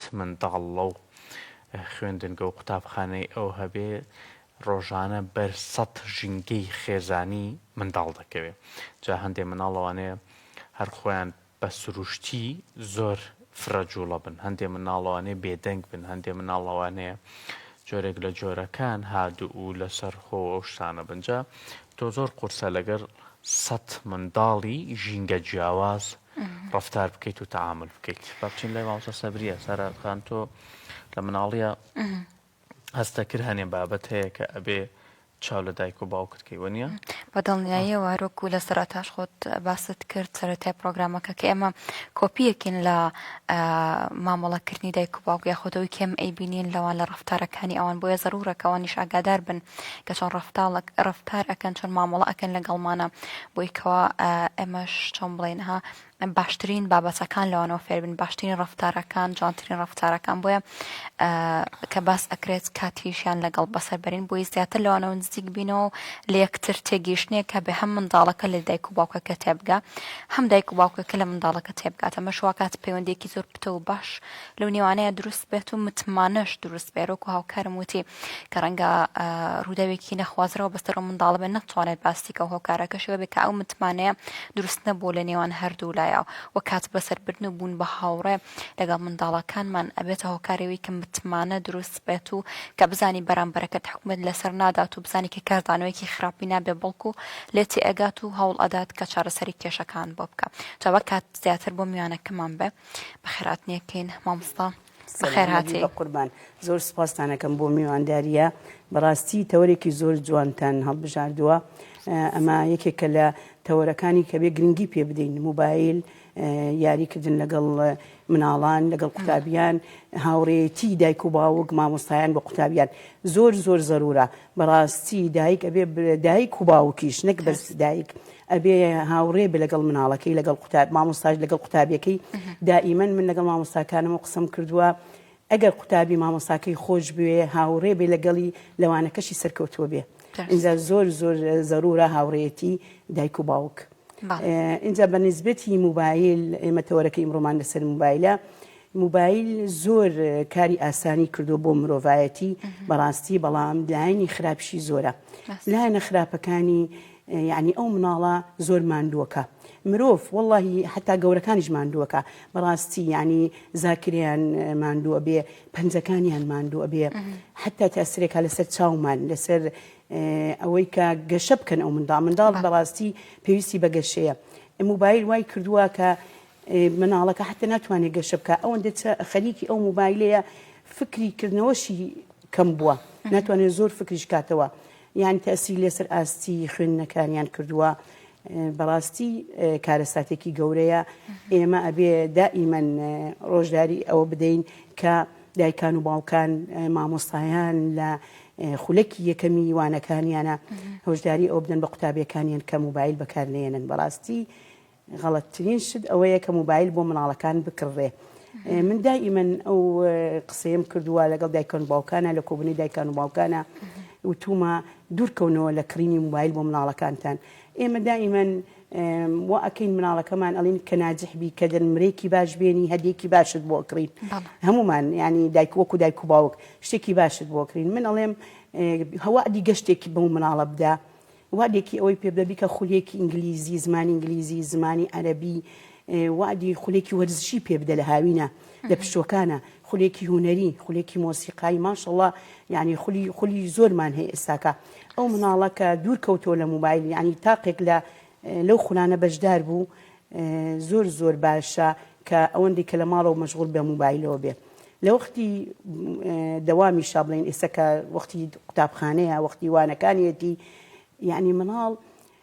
چ منداڵ لەو خوێندنگە و قوتابخانەی ئەو هەبێ ڕۆژانە بەر سەد ژینگەی خێزانی منداڵ دەکەوێ جا هەندێ مناڵ ئەوانەیە هەر خۆیان بە سروشتی زۆر فرە جوڵە بن هەندێ مناڵ ئەوانەیە بێدەنگ بن هەندێ مناڵ ئەوانەیە جۆرێک لە جۆرەکان هادوو و لەسەر خۆ ئەو شتانە بن جا تۆ زۆر قورسە لەگەر سەد منداڵی ژینگە جیاواز ڕەفتار بکەیت و تەعامل بکەیت با بچین لای مامۆستا سەبریە سارا خان تۆ لە مناڵیە هەستە کرد هەنێ بابەت هەیە کە ئەبێ چاو لە دایک و باوکت کەی وەنیە بە دڵنیاییە وارۆک و لە سەرتاش خۆت باست کرد سەرەتای پرۆگرامەکە کە ئێمە کۆپیەکین لە مامەڵەکردنی دایک و باوک یاخۆتەوەی کێم ئەی بینین لەوان لە ڕفتارەکانی ئەوان بۆیە زەرورەکەەوە نیشاگادار بن کە چۆن ڕفتاڵک ڕفتار ئەەکەن چۆن مامەڵە ئەەکەن لە گەڵمانە بۆی کەوا ئێمەش چۆن بڵێن ها باشترین بابەتەکان لەوانەوە فێربن باشترین ڕفتارەکان جوانترین ڕفتارەکان بۆیە کە باس ئەکرێت کاتیشیان لەگەڵ بەسەربەرین بۆی زیاتر لەوانەوە نزیک بینەوە لە یەکتر تێگەیشتنێک کە بێ هەم منداڵەکە لە دایک و باوکەکە تێبگا هەم دایک و باوکەکە لە منداڵەکە تێبگاتە مەشواکات پەیوەندێکی زۆر پتە و باش لەو نێوانەیە دروست بێت و متمانەش دروست بێرۆک و هاوکارم وتی کە ڕەنگە ڕووداوێکی نەخوازرەوە بەسەر و منداڵ بێ نەتوانێت باسیکە و هۆکارەکەشەوە بێ کە ئەو متمانەیە دروست نەبوو لە نێوان هەردوو لایە و کات بەسەربردن و بوون بە هاوڕێ لەگەڵ منداڵەکانمان ئەبێتە هۆکارەوەی کە متمانە دروست بێت و کە بزانی بەرامبەرەکەت حکومت لەسەر نادات و بزانی کە کاردانەوەیکی خراپی نابێ بەڵکو لێتی ئەگات و هەوڵ ئەدات کە چارەسەری کێشەکان بۆ بکە جاوە کات زیاتر بۆ میوانەکەمان بێ بەخێراتنیەکەین مامۆستا بەخێرهاتیبەقوربان زۆر سوپاستانەکەم بۆ میوانداریە بەڕاستی تەوەرێکی زۆر جوانتان هەڵبژاردووە ئەمە یەکێکە لە تەوەرەکانی کە بێ گرنگی پێ بدەین موبایل یاریکردن لەگەڵ مناڵان لەگەڵ قوتابیان هاوڕێتی دایک و باوک مامۆستایان بە قوتابیان زۆر زۆر زەرورە بەڕاستی دایک ئەبێ دایک و باوکیش نەک بەس دایک ئەبێ هاوڕێ بێ لەگەڵ مناڵەکەی لەگەڵ قوتاب مامۆستاش لەگەڵ قوتابیەکەی دائیمەن من لەگەڵ مامۆستاکانم و قسم کردووە ئەگەر قوتابی مامۆستاکەی خۆش بوێ هاوڕێ بێ لەگەڵی لەوانەکەشی سەرکەوتووە بێ اینجا زۆر زۆر زەرورە هاوڕێتی دایک و باوک ئینجا بە نیسبەتی موبایل ئێمە تەوەرەکە ئیمڕۆمان لەسەر موبایلە موبایل زۆر کاری ئاسانی کردو بۆ مرۆڤایەتی بەڕاستی بەڵام لایەنی خراپشی زۆرە لایەنە خراپەکانی یعنی ئەو مناڵە زۆر ماندووەکە مرۆڤ واللهی حتا گەورەکانیش ماندووەکە بەڕاستی ینی زاکریان ماندووە بێ پەنجەکانیان ماندووە بێ حتا تاسرێکا لەسەر چاومان لەسەر ئەوەی کە گەشە بکەن ئەو منداڵ منداڵ بەڕاستی پێویستی بە گەشەیە موبایل وای کردووە کە مناڵەکە حتە ناتوانێت گەشە بکە ئەوەن دێت خەریکی ئەو موبایلەیە فکری کردنەوەشی کەم بووە ناتوانێت زۆر فکریش کاتەوە یان تەسی لەسەر ئاستی خوێندنەکانیان کردووە بەڕاستی کارەساتێکی گەورەیە ئێمە ئەبێ دائیمەن ڕۆژداری ئەوە بدەین کە دایکان و باوکان مامۆستایان لە خولەکی یەکەمی وانەکانیانە هۆشداری ئەوە بدەن بە قوتابیەکانیان کە موبایل بەکار نێنن بەڕاستی غەڵەتترین شت ئەوەیە کە موبایل بۆ مناڵەکان بکڕێ من دائیمەن ئەو قسەیەم کردووە لەگەڵ دایکۆن باوکانە لە کۆبنی دایکان و باوکانە وتومە دوورکەونەوە لە کڕینی موبایل بۆ مناڵەکانتان ئێمە دائیمەن وا ئەکەین مناڵەکەمان ئەڵین کە ناجح بی کە دەنمرەیەکی باش بێنی هەدیەکی باشت بۆ ئەکڕین هەمومان ینی دایک وەکو دایک و باوک شتێکی باشت بۆ ئەکرین من ئەڵێم هەوا دی گەشتێکی بەو مناڵە بدە وادێکی ئەوەی پێ بدە بیکە خولێکی ئینگلیزی زمانی ئینگلیزی زمانی عەربی وەعدی خولێکی وەرزشی پێ بدە لە هاوینە لە پشووەکانە خولێکی هونەری خولێکی مۆسیقایی ماشەڵڵا یعنی خولی خولی زۆرمان هەیە ئێستاکە ئەو مناڵە کە دوور کەوتۆ لە موبایل یعنی تاقێک لە لەو خولانە بەشدار بوو زۆر زۆر باشە کە ئەوەندی کە لە ماڵەوە مەشغول بە موبایلەوە بێ لە وەختی دەوامی شابڵین ئێستا کە وەختی قوتابخانەیە وەختی وانەکانیەتی یعنی مناڵ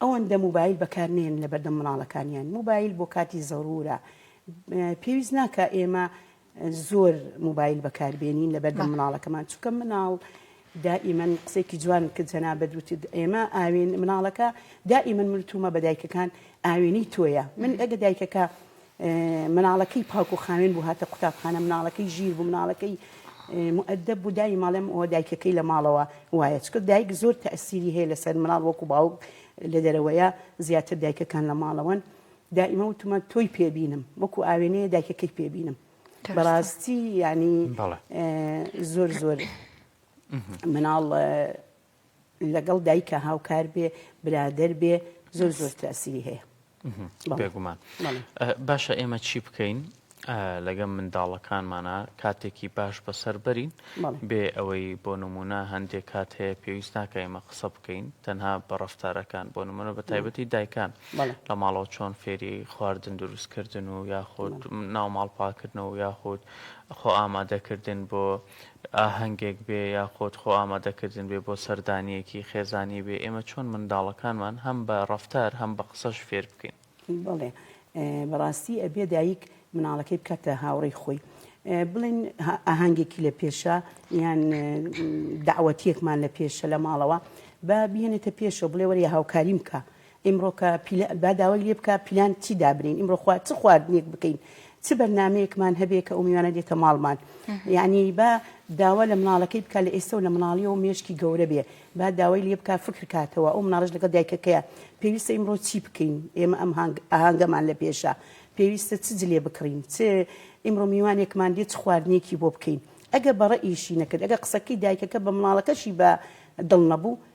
ئەوەندە موبایل بەکار نێن لەبەردەم مناڵەکانیان موبایل بۆ کاتی زەرورە پێویست ناکە ئێمە زۆر موبایل بەکاربێنین لە بەردە مناڵەکەمان چکە مناڵ دائیمەن قسێکی جوان کە جەنا بەدوتت ئێمە ئاوێن مناڵەکە دائیمەن مرتومە بە دایکەکان ئاوێنی تۆیە من ئەگە دایکەکە مناڵەکەی پاک و خاوێن بوو هاتە قوتابخانە مناڵەکەی ژیر بوو مناڵەکەی مودەب بوو دایم ئەڵێم ئەوە دایکەکەی لە ماڵەوە وایە چکە دایک زۆر تەئسیری هەیە لەسەر مناڵ وەکو باوک لە دەرەوەیە زیاتر دایکەکان لە ماڵەوەن دائیمە وتمە تۆی پێ بینم وەکو ئاوێنەیە دایکەکەی پێ بینم بەڕاستی یعنی زۆر زۆر مناڵ لەگەڵ دایکە هاوکار بێ برادر بێ زۆر زۆر تاسیری هەیە بێگومان باشە ئێمە چی بکەین لەگەم منداڵەکانمانە کاتێکی باش بەسەر بەرین بێ ئەوەی بۆ نمونە هەندێک کات هەیە پێویست ناکە ئێمە قسە بکەین تەنها بە ڕفتارەکان بۆ نمونە بە تایبەتی دایکان لە ماڵەوە چۆن فێری خواردن دروستکردن و یاخود ناو ماڵپاکردنەوە یاخود خۆ ئامادەکردن بۆ ئاهەنگێک بێ یاخود خۆ ئامادەکردن بێ بۆ سەردانییەکی خێزانی بێ، ئێمە چۆن منداڵەکانمان هەم بە ڕەفتار هەم بە قسەش فێر بکەین؟ بەڵێ بەڕاستی ئەبێ دایک مناڵەکەی بکاتە هاوڕێی خۆی بڵێن ئاهەنگێکی لە پێشە یان داوەتیەکمان لە پێشە لە ماڵەوە با بهێنێتە پێشەوە بڵێ وەرە هاوکاریم بکە ئیمڕۆ کە پیلان با داوای لێ بکا پیلان چی دابنێین ئیمڕۆ خوا چ خواردنێک بکەین چ بەرنامەیەکمان هەبێ کە ئەو میوانە دێتە ماڵمان یعنی با داوا لە مناڵەکەی بکە لە ئێستا و لە مناڵیەوە مێشکی گەورە بێ با داوای لێ بکە فکر کاتەوە ئەو مناڵش لەگەڵ دایکەکەیە پێویستە ئیمڕۆ چی بکەین ئێمە ئەم هەنگ ئاهەنگەمان لە پێشە پێویستە چ جلێ بکڕین چ ئیمڕۆ میوانێکمان دێت چ خواردنێکی بۆ بکەین ئەگە بەڕە ئیشی نەکرد ئەگە قسەکەی دایکەکە بە مناڵەکەشی بە دڵ نەبوو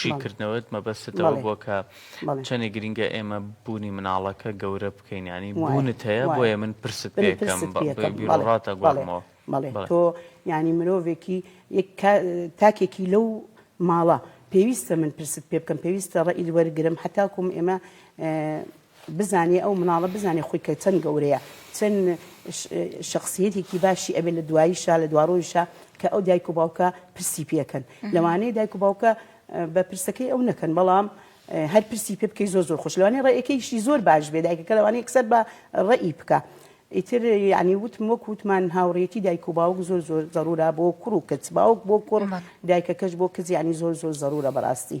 شیکردنەوەت مەبەستت ئەوە بووە کە چەنێ گرینگە ئێمە بوونی مناڵەکە گەورە بکەین ینی بوونت هەیە بۆیە من پرست پێکەم بیڕاتە گوڵمەوە بەڵێ تۆ ینی مرۆڤێکی تاکێکی لەو ماڵە پێویستە من پرست پێ بکەم پێویستە ڕئیل وەرگرم حتاکم ئێمە بزانێ ئەو مناڵە بزانێ خۆی کە چەند گەورەیە چەن شخصیەتێکی باشی ئەبێ لە دواییشا لە دوارۆیشا کە ئەو دایک و باوکە پرسی پێکەن لەوانەیە دایک و باوکە بە پرسەکەی ئەو نەکەن بەڵام هەر پرسی پێ بکەی زۆر زۆر خۆشلوانێ ڕێەکەیشی زۆر باش بێ دایکەکە لەوانەیە کسەر بە ڕێی بکە. ئیتر یعنی وتم وەک وتمان هاوڕێتی دایک و باوک زۆر زۆر زەرورا بۆ کوڕ و کچ باوک بۆ کوڕ دایکەکەش بۆ کزیانی زۆر زۆر زەرورە بەڕاستی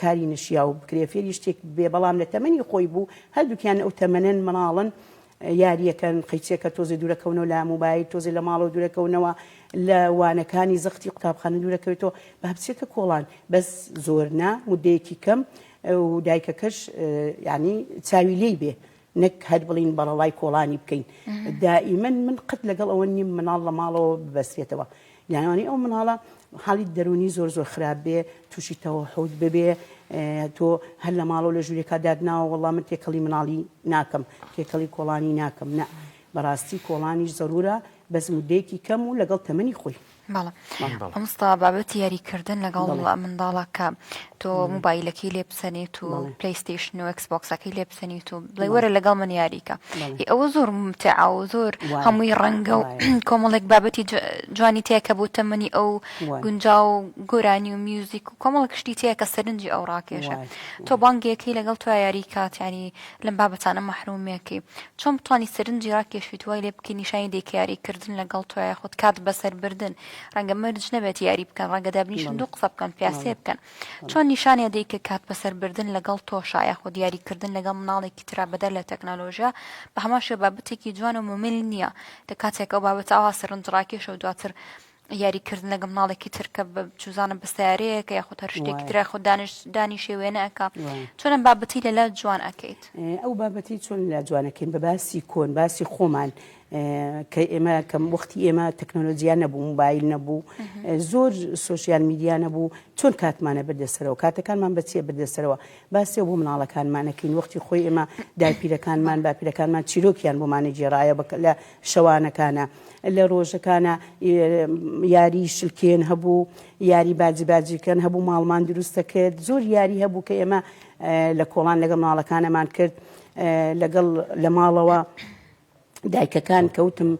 کاری نەشیاو بکرێ فێری شتێک بێ بەڵام لە تەمەنی خۆی بوو هەردووکیان ئەو تەمەنەن مناڵن یاریەکەن قەیچێکە تۆزێ دوورەکەونەوە لە موبایل تۆزێ لە ماڵەوە دوورەکەونەوە لە وانەکانی زەختی قوتابخانە دوورەکەوێتەوە بە هەبچێتە کۆڵان بەس زۆرنا مدەیەکی کەم و دایکەکەش ینی چاوی لی بێ نەک هەر بڵێین بەڕەڵای کۆڵانی بکەین. دائیمەن من قەت لەگەڵ ئەوە نیم مناڵ لە ماڵەوە ببەسترێتەوە. یانی وانەی ئەو مناڵە حاڵی دەروونی زۆر زۆر خراپ بێ، تووشی تەوەحوود ببێ، تۆ هەر لە ماڵەوە لە ژوورێکا دات ناوە وەڵڵا من تێکەڵی مناڵی ناکەم، تێکەڵی کۆڵانی ناکەم. نە، بەڕاستی کۆڵانیش زەروورە بەس موددەیەکی کەم و لەگەڵ تەمەنی خۆی. بەڵێ مامۆستا بابەتی یاریکردن لەگەڵ منداڵە کە تۆ موبایلەکەی لێ بسەنیت و پلیستیشن و ئەکسبکسەکەی لێ بسەنیت و بڵێ وەرە لەگەڵ من یاریکە ئەوە زۆر متعا و زۆر هەمووی ڕەنگە و کۆمەڵێک بابەتی جوانی تێکە بۆ تەمەنی ئەو گونجا و گۆرانی و میوزیک و کۆمەڵ کشتی تێکە سەرنجی ئەو ڕاکێشە تۆ بانگێکی لەگەڵ تو یاریکات ینی لەم بابەتانە مەحرومیەکەی چۆن بتوانی سەرنجی راکێشیت وای لێ بکەی نیشانی دەیکە یاری کردن لەگەڵ تۆ یاخود کات بەسەر بردن رەنگە مەرج نەبێت یاری بکەن رەنگە دابنیشن دوو قسە بکەن پیاسێ بکەن چۆن نیشانیان دەیکە کات بەسەر بردن لەگەڵ تۆشا یاخود یاری کردن لەگەڵ مناڵێکی ترا بەدەر لە تەکنەلۆژیا بەهەمان شێوە بابەتێکی جوان و مومل نیە لە کاتێک ئەو بابەتە ئاوا سەرنج راکێشە و دواتر یاری کردن لەگە مناڵێکی ترکە چوزانە بە سیارەیەکە یاخود هەر شتێکی ترە خۆ دانش دانیشێ وێنە ئەک چۆنم بابەتی لەلا جوان ئەکەیت ئەو بابەتی چۆن لا جوانەکەین بە باسی کۆن باسی خۆمان کە ئێمە کەم وەختی ئێمە تەکنۆلۆژیا نەبوو موبایل نەبوو زۆر سوسیال میدیا نەبوو چۆن کاتمانە بردەسەرەوە کاتەکانمان بەچیە بردەسەرەوە باسێ بۆ مناڵەکانمانەکەین وەختی خۆی ئێمە دایپیرەکانمان باپیرەکانمان چیرۆکیان بۆمانی جێڕایە بە لە شەوانەکانە لە ڕۆژەکانە یاری شلکێن هەبوو یاری باجی باجیکەن هەبوو ماڵمان دروستە کرد زۆر یاری هەبوو کە ئێمە لە کۆڵان لەگە ماڵەکانەمان کرد لەگەڵ لە ماڵەوە دایکەکان کەوتم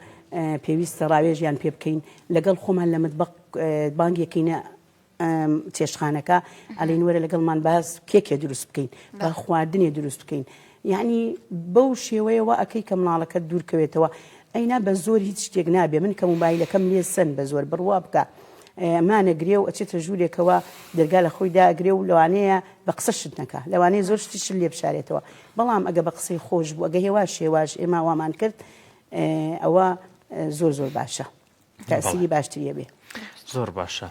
پێویستە ڕاوێژیان پێ بکەین لەگەڵ خۆمان لە متبق بانگێکینە چێشتخانەکە ئەلین وەرە لەگەڵمان باس کێکێ دروست بکەین با خواردنێ دروست بکەین یعنی بەو شێوەیەوە ئەەکەی کە مناڵەکە دوورکەوێتەوە ئەینا بە زۆر هیچ شتێک نابێ من کە موبایلەکەم لێ سند بە زۆر بڕوا بکە مانەگرێ و ئەچێتە ژوورێکەوە دەرگا لە خۆی داگرێ و لەوانەیە بە قسە شت نەکە لەوانەیە زۆر شتیش لێ بشارێتەوە بەڵام ئەگە بە قسەی خۆش بوو ئەگە هێواش هێواش ئێمە وامان کرد ئەوە زۆر زۆر باشە. تەسیری باشتریە بێ زۆر باشە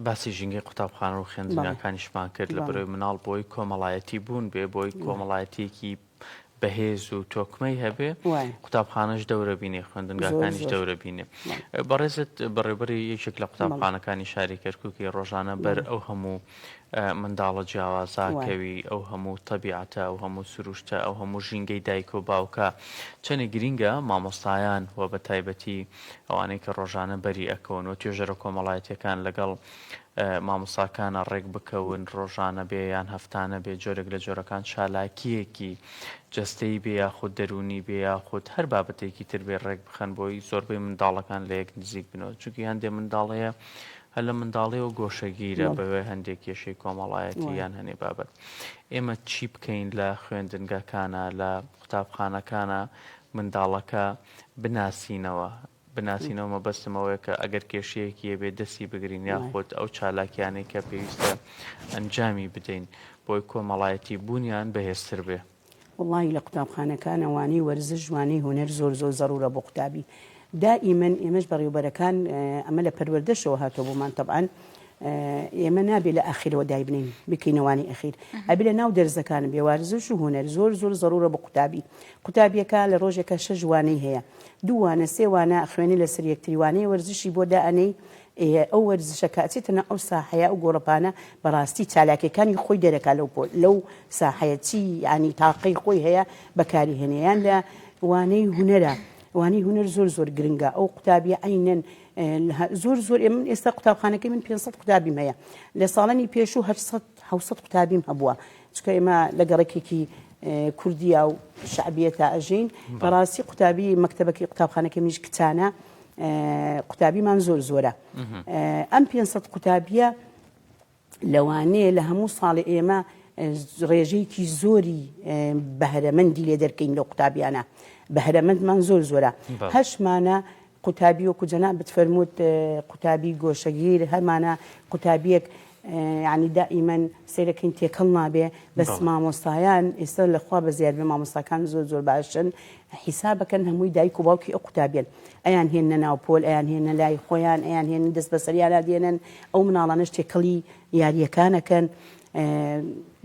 باسی ژینگەی قوتابخانە و خوێندنگاکانیشمان کرد لە بەرەوەی مناڵ بۆی کۆمەڵایەتی بوون بێ بۆی کۆمەڵایەتیەکی بەهێز و تۆکمەی هەبێ قوتابخانەش دەورەبینێ خوێندنگاکانیش دەورەبینێ بەڕێزت بەڕێبەری یەکێک لە قوتابخانەکانی شاری کەرککی ڕۆژانە بەر ئەو هەموو منداڵە جیاوازە، کەوی، ئەو هەموو تەبیعەتە، ئەو هەموو سروشتە، ئەو هەموو ژینگەی دایک و باوکە، چەنێک گرینگە مامۆستایان و بە تایبەتی ئەوانەی کە ڕۆژانە بەری ئەکەون و توێژەرە کۆمەڵایەتیەکان لەگەڵ مامۆستاکانە ڕێک بکەون ڕۆژانە بێ یان هەفتانە بێ جۆرێک لە جۆرەکان چالاکیەکی جەستەی بێ یاخود دەروونی بێ یاخود هەر بابەتێکی تر بێ ڕێک بخەن بۆی زۆربەی منداڵەکان لە یەک نزیک بنەوە چونکی هەندێ منداڵەیە هەر لە منداڵیەوە گۆشەگیرە بە هۆی هەندێک کێشەی کۆمەڵایەتی یان هەنێ بابەت. ئێمە چی بکەین لە خوێندنگەکانا، لە قوتابخانەکانا منداڵەکە بناسینەوە؟ بناسینەوە مەبەستم ئەوەیە کە ئەگەر کێشەیەکی هەبێ دەستی بگرین یاخود ئەو چالاکیانەی کە پێویستە ئەنجامی بدەین بۆی کۆمەڵایەتی بوونیان بەهێزتر بێ. وەڵاهی لە قوتابخانەکانە وانەی وەرزش وانەی هونەر زۆر زۆر زەڕوورە بۆ قوتابی دائیمەن ئێمەش بەڕێوبەرەکان ئەمە لە پەروەردەشەوە هاتۆ بۆمان تەبعاان ئێمە نابێت لە ئاخیرەوە دایبنین بکەینەوانی ئەخیر ئەبی لە ناو دەرزەکان بێ وارزش و هوەر زۆر زۆر زەڕورە بە قوتابی قوتابیەکە لە ڕۆژێکە شەژوانەی هەیە دووانە سێوانە خوێنی لە سریەکتریوانەی وەرزشی بۆ دائەنەی ئێ ئەو وەرزشە کە ئەچێتە ناو ئەو ساحەیە ئەو گۆڕەپانە بەڕاستی چالاکیەکانی خۆی دەرەکا لەو پۆ لەو ساحەیە چی یانی تاقەی خۆی هەیە بەکاری هێنێ یان لە وانەی هونەرە وانەی هونەر زۆر زۆر گرنگە ئەو قوتابیە عینەن زۆر زۆر ئێ من ئێستا قوتابخانەکەی من 500 قوتابیم هەیە لە ساڵانی پێشوو 800 600 قوتابیم هەبووە چکە ئێمە لە گەڕێکێکی کوردیا و شعبیە تا ئەژین بەڕاستی قوتابی مەکتتەبەکەی قوتابخانەکە میش کچانە قوتابیمان زۆر زۆرە ئەم پێ سەد قوتابیە لەوانەیە لە هەموو ساڵی ئێمە ڕێژەیەکی زۆری بەهرەمەندی لێ دەرکەین لە قوتابیانە بەهرەمەندمان زۆر زۆرە هەشمانە قوتابی وەکو جەنا بتفەرمووت قوتابی گۆشەگیر هەمانە قوتابیەک یانی دائیمەن سەیرەکەین تێکەڵ نابێ بەس مامۆستایان ئێستا لە خوا بەزیاد بێ مامۆستاکان زۆر زۆر باشن حیسابەکەن هەمووی دایک و باوکی ئەو قوتابیان ئەیان هێنە ناو پۆل ئەیان هێنە لای خۆیان ئەیان هێن دەست بەسەریانە دێنن ئەو مناڵانش تێکەڵی یاریەکانەکەن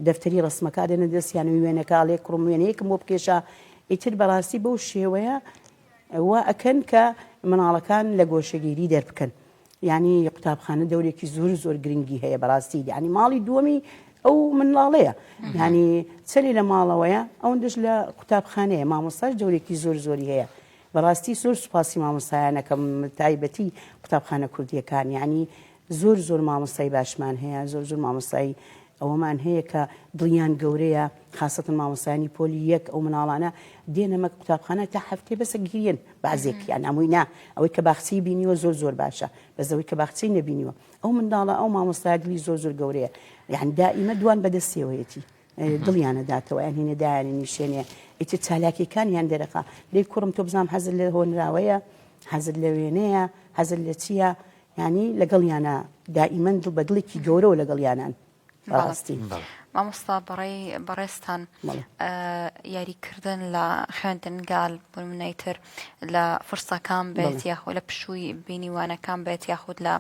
دەفتەری ڕسمەکە دێنە دەستیانوی وێنەکە لێ کوڕم وێنەیەکم بۆ بکێشە ئیتر بەڕاستی بەو شێوەیە وا ئەکەن کە مناڵەکان لە گۆشەگیری دەربکەن یانی قوتابخانە دەورێکی زۆر زۆر گرنگی هەیە بەڕاستی یانی ماڵی دووەمی ئەو منڵاڵەیە یانی چلی لە ماڵەوەیە ئەوەندەش لە قوتابخانەیە مامۆستاش دەورێکی زۆر زۆری هەیە بەڕاستی زۆر سوپاسی مامۆستایانەکەم تایبەتی قوتابخانە کوردیەکان یانی زۆر زۆر مامۆستای باشمان هەیە زۆر زۆر مامۆستای ئەوەمان هەیە کە دڵیان گەورەیە خاسەتەن مامۆستایانی پۆلی یەک ئەو مناڵانە دێنە مەک قوتابخانە تا هەفتەی بەسە گریەن بەعزێکیان ئەمووی نا ئەوەی کە باخچەی بینیوە زۆر زۆر باشە بەزەوەی کە باخچەی نەبینیوە ئەو منداڵە ئەو مامۆستای دلی زۆر زۆر گەورەیە یعنی دائیمە دوان بەدەستێوەیەتی دڵیانە داتەوە یان هینە دایانی نیشێنێ ئیتر چالاکیەکانیان دەرەخا لی کوڕم تۆ بزانام حەزل لە هۆنراوەیە حەزل لە وێنەیە حەزل لە چییە یانی لەگەڵیانا دائیمەن دڵ بە دڵێکی گەورەوە لەگەڵیانان بەڕاستی مامۆستا بەڕێی بەڕێزتان یاریکردن لە خوێندنگال بمنەی تر لە فرسەکان بێت یاخۆ لە پشووی بینیوانەکان بێت یاخود لە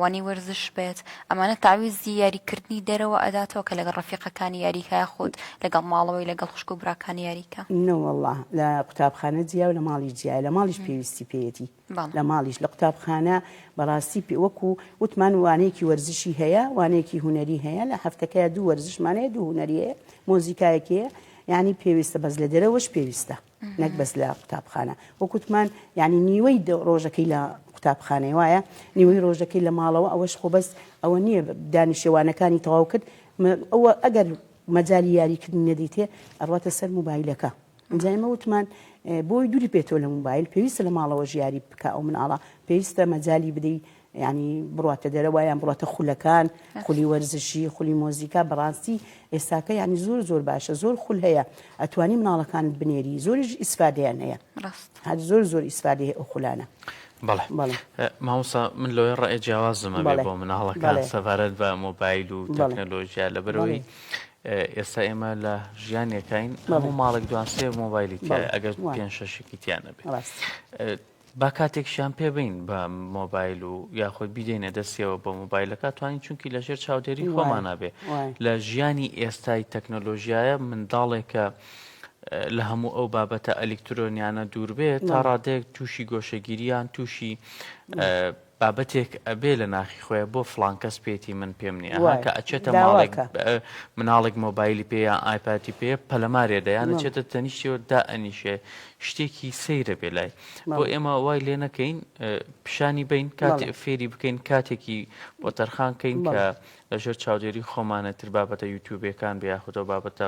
وانی وەرزش بێت ئەمانە تاویزی یاریکردنی دەرەوە ئەداتەوە کە لەگەڵ ڕفیقەکانی یاریکای خۆت لەگەڵ ماڵەوەی لەگەڵ خوشک و براکانی یاریکە نەوەله لە قوتابخانە جیا و لە ماڵی جیا لە ماڵیش پێویستی پێەتی لە ماڵیش لە قوتابخانە بەڕاستی پێ وەکو وتمان وانەیەکی وەرزشی هەیە وانەیەکی هوەری هەیە لە هەفتەکەی دوو وەرزشمانەیە دوو هوەریەیە مۆزیکایەکەیە یعنی پێویستە بەس لە دەرەوەش پێویستە نەک بەس لە قوتابخانە وەکوتمان ینی نیوەی ڕۆژەکەی لە قوتابخانەی وایە نیوەی ڕۆژەکەی لە ماڵەوە ئەوەش خۆ بەس ئەوە نییە دانیشێوانەکانی تەواو کرد ئەوە ئەگەر مەجای یاریکردن نەدیتێ ئەڕاتە سەر موبایلەکە جا ئێمە وتمان بۆی دوری پێتۆ لە موبایل پێویستە لە ماڵەوە ژیاری بکە ئەو مناڵە پێویستە مەجای بدەی ینی بڕاتە دەرەوە یان بڕاتە خولەکان خولی وەرزشی خولی مۆزیکا بەڕاستی ئێستاکە ینی زۆر زۆر باشە زۆر خول هەیە ئەتوانی مناڵەکانت بنێری زۆریش ئیسفادیان هەیە هەر زۆر زۆر ئیسفادی هەیە ئەو خولانە. بەڵێ ماوسا من لۆیە ڕێ جیاوازمە بۆ مناڵەکان سەبارەت بە مۆبایل و تەکنەلۆژیا لە بەرەوەی ئێستا ئێمە لە ژیانێکین هەموو ماڵێک دوان سێ مۆبایلی تای ئەگەر پێ شەشێکی تیانە بێت با کاتێکشیان پێ بین بە مۆبایل و یاخود بیدەینە دەستەوە بە مۆبایلەکە توانین چونکی لە ژێر چاودێری خۆمانە بێ لە ژیانی ئێستای تەکنۆلۆژیایە منداڵێکە لە هەموو ئەو بابەتە ئەلیکترۆنیانە دوور بێت تا ڕادێک تووشی گۆشەگیریان تووشی بابەتێک ئەبێ لە ناخی خۆیە بۆ فڵان کەس پێیەتی من پێم نیە ئەها کە ئەچێتە ماڵێک مناڵێک مۆبایلی پێ یان ئایپاتی پێ پەلەمارێ دەیان ئەچێتە تەنیشتیەوە دا ئەنیشێ شتێکی سەیرە بێ لای بۆ ئێمە وای لێ نەکەین پیشانی بین کات فێری بکەین کاتێکی بۆ تەرخان کەین کە لە ژێر چاودێری خۆمانە تر بابەتە یوتیوبیەکان بێ یاخودەو بابەتە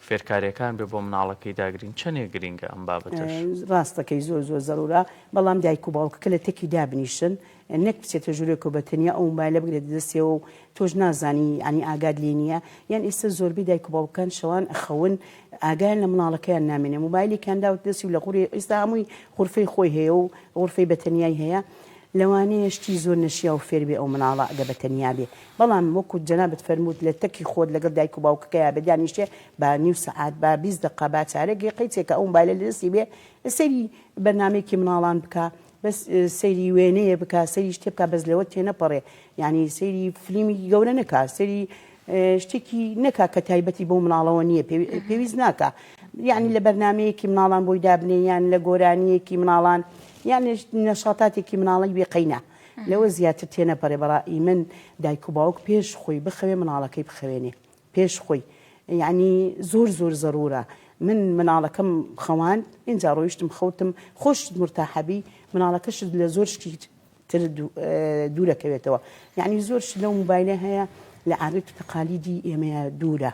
فێرکاریەکان بێ بۆ مناڵەکەی داگرین چەنێک گرینگە ئەم بابەتەش؟ ڕاستەکەی زۆر زۆر زەرورە بەڵام دایک و باوکەکە لە تەکی دابنیشن نەک بچێتە ژورێکەوە بە تەنیا ئەو مبایلە بگرێتە دەستیەوە و تۆش نازانی ینی ئاگات لێ نییە یان ئێستا زۆربەی دایک و باوکەکان شەوان ئەخەون ئاگایان لە مناڵەکەیان نامێنێ مبایلێکیان داوت دەستی و لە غوری ئێستا هەمووی غورفەی خۆی هەیە و غورفەی بەتەنیای هەیە لەوانەیە شتی زۆر نەشیاو فێربێ ئەو مناڵە ئەگە بە تەنیا بێ بەڵام وەکو جەنابت فەرمووت لە تەکی خۆت لەگەڵ دایک و باوکەکەیا بێ دانیشێ با نیو سەعات با بیست دەقە با چارەک یە قەیچێ کە ئەو مبایلە لە دەستی بێ سەیری بەرنامەیەکی مناڵان بکا بەس سەیری وێنەیە بکا سەیری شتێ بکا بەس لەوە تێنەپەڕێ یانی سەیری فلیمیکی گەورە نەکا سەیری شتێکی نەکا کە تایبەتی بەو مناڵەوە نییە پێویست ناکا یعنی لە بەرنمەیەکی مناڵان بۆی دابنێ یان لە گۆرانیەکی مناڵان یان نەشاتاتێکی مناڵی بێقینە لەوە زیاتر تێنەپەرێ بەڕی من دایک و باوک پێش خۆی بخەوێ مناڵەکەی بخەوێنێ پێش خۆی یعنی زۆر زۆر زەرورە من مناڵەکەم خەوان اینجا ڕۆیشتم خەوتم خۆشت مرتاحەبی مناڵەکەشت لە زۆر شتی تر دوورەکەوێتەوە یانی زۆر شت لەو موبایلە هەیە لە عادەت و تەقالیدی ئێمەیە دوورە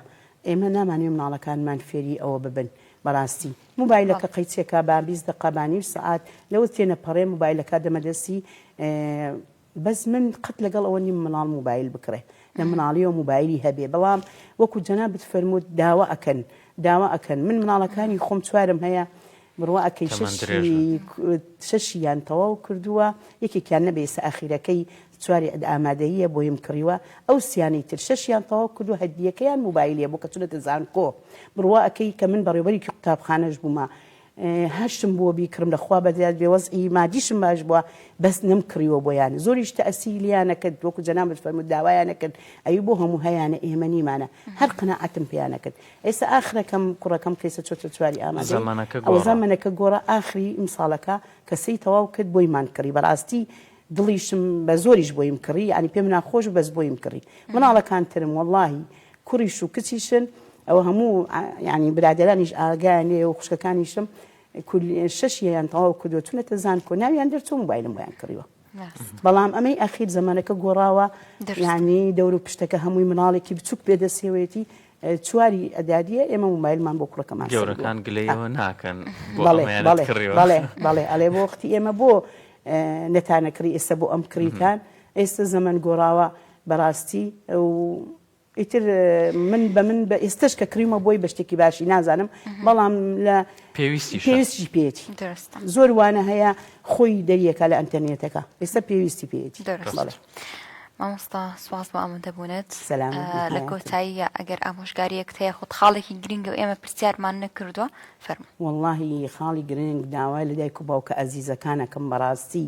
ئێمە نامانوێ مناڵەکانمان فێری ئەوە ببن بەڕاستی موبایلەکە قەیچێکا با بیست دقە با نیم سعات لەوە تێنەپەڕێ موبایلەکە دەمەدەستی بەس من قەت لەگەڵ ئەوە نیم مناڵ موبایل بکڕێ لە مناڵیەوە موبایلی هەبێ بەڵام وەکو جەنابت فەرمووت داوا ئەکەن داوا ئەکەن من مناڵەکانی خۆم چوارم هەیە بڕوا ئەکەی تەمەن شەشی درێژ بن. شەشی یان تەواو کردووە یەکێکیان نەبێ ئیسە ئاخیرەکەی چواری ئەد ئامادەییە بۆیم کڕیوە ئەو سیانەی تر شەشیان تەواو کردووە هەردییەکەیان موبایل هەیە بۆ کە چونەتە زانکۆ بڕوا ئەکەی کە من بەڕێوبەرێکی قوتابخانەش بوومە هەرشتم بۆ بیکڕم لە خوا بەدیار بێ وەزعی مادیشم باش بووە بەس نەمکڕیوە بۆیان زۆریش تەئسیری لێیان نەکرد وەکو جەنابت فەرمووت داوایان نەکرد ئەوی بۆ هەموو هەیانە ئێمە نیمانە هەر قەناعەتم پێیان نەکرد ئێستا ئاخرەکەم کوڕەکەم قەیسە چۆتە چواری ئامادەی ئەوە زەمەنەکە گۆڕا ئاخری ئیمساڵەکە کە سێی تەواو کرد بۆیمان کڕی بەڕاستی دڵیشم بە زۆریش بۆیم کڕی یانی پێم ناخۆش بەس بۆیم کڕی مناڵەکان ترم وەڵاهی کوڕیش و کچیشن ئەوە هەموو یعنی برادرانیش ئاگایان لێ و خوشکەکانیشم شەشیان تەواو کردو چونەتە زانکۆ ناویان دەرچوو موبایلم بۆیان کڕیوە بەڵام ئەمەی ئەخیر زمانەکە گۆڕاوە یعنی دەور و پشتەکە هەمووی مناڵێکی بچووک پێدەسێوێتی چواری ئەداریە ئێمە مومایلمان بۆ کوڕەکەمان گەورەکان گلەیەوە ناکەن بەڵێ ئەڵێ بۆ وەختی ئێمە بۆ نەتانە کڕی ئێستا بۆ ئەم کڕیتان ئێستا زەمن گۆڕاوە بەڕاستی و ئیتر من بە من بە ئێستش کە کریمە بۆی بە شتێکی باشی نازانم بەڵام لە پێویستی پێویستی پێێتی زۆر وانە هەیە خۆی دەریەکە لە ئەتەنیێتەکە ئێستا پێویستی پێێتی مامۆستا سواز بۆ ئامادەبوونت لە کۆتاییە ئەگەر ئامۆژگاریەک هەیە خۆت خاڵێکی گرنگە و ئێمە پرسیارمان نەکردووە فەرمو واللهی خاڵی گرنگ داوای لە دایک و باوکە ئازیزەکانەکەم بەڕاستی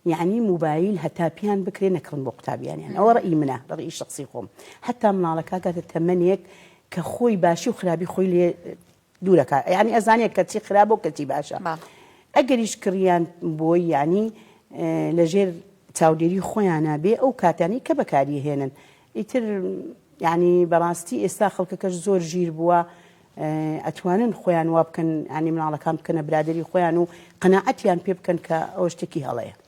یعنی موبایل هەتا پیان بکرێ نەکڕن بۆ قوتابیانیان ئەوە ڕئی منە ڕئی شخصی خۆم هەتا مناڵەکە گاتە تەمەنێک کە خۆی باشی و خراپی خۆی لێ دوورەکا یانی ئەزانێ کەچی خراپ و کەچی باشە ئەگەریش کڕیان بۆی یانی لەژێر چاودێری خۆیانە بێ ئەو کاتانی کە بەکاری هێنن ئیتر یعنی بەڕاستی ئێستا خەڵکەکەش زۆر ژیر بووە ئەتوانن خۆیان وا بکەن ینی مناڵەکان بکەنە برادری خۆیان و قەنەعەتیان پێ بکەن کە ئەو شتێکی هەڵەیە